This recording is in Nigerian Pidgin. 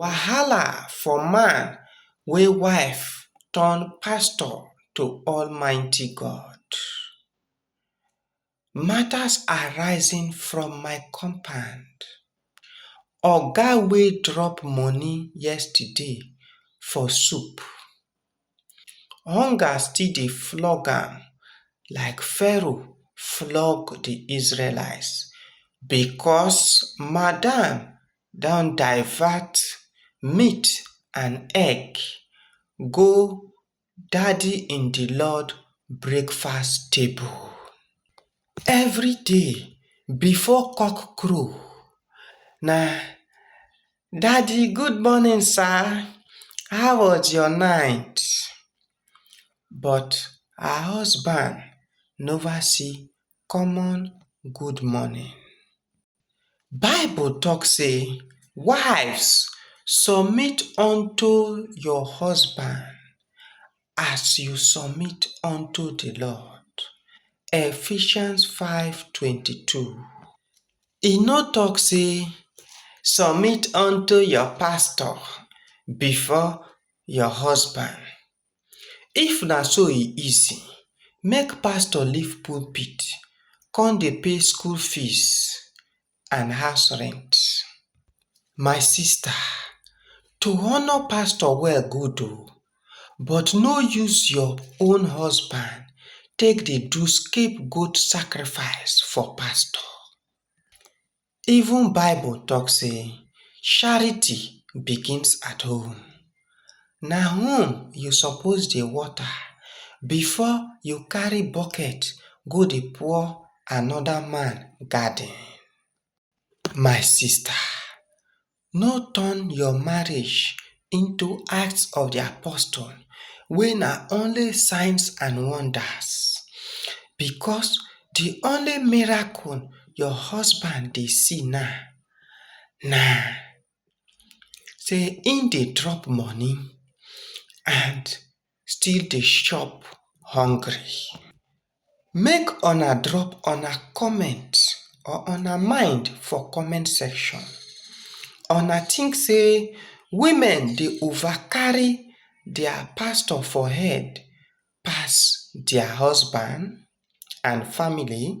Wahala for man wey wife turn pastor to almighty God. Matters arising from my compound, oga wey drop money yesterday for soup. hunger still dey flog am like pharaoh flog di israelites becos madam don divert meat and egg go daddy-in-di-lord breakfast table. Everyday before cock crow na. Daddy good morning sir, how was your night? But her husband nova see common good morning. Bible talk sey wives submit unto your husband as you submit unto the Lord. Ephesians 5:22. E no talk say submit unto your pastor before your husband. If na so e easy, make pastor leave pulpit come dey pay school fees and house rent. My sister, to honour pastor well good o, but no use your own husband take dey do scape goat sacrifice for pastor. Even bible talk sey charity begins at home. na home you suppose dey water before you carry bucket go dey pour another man garden. My sister no turn your marriage into act of the apostle wey na only signs and wonders because the only miracle your husband dey see now na say im dey drop money and still dey chop hungry make una drop una comment or una mind for comment section una think say women dey over carry their pastor for head pass their husband and family?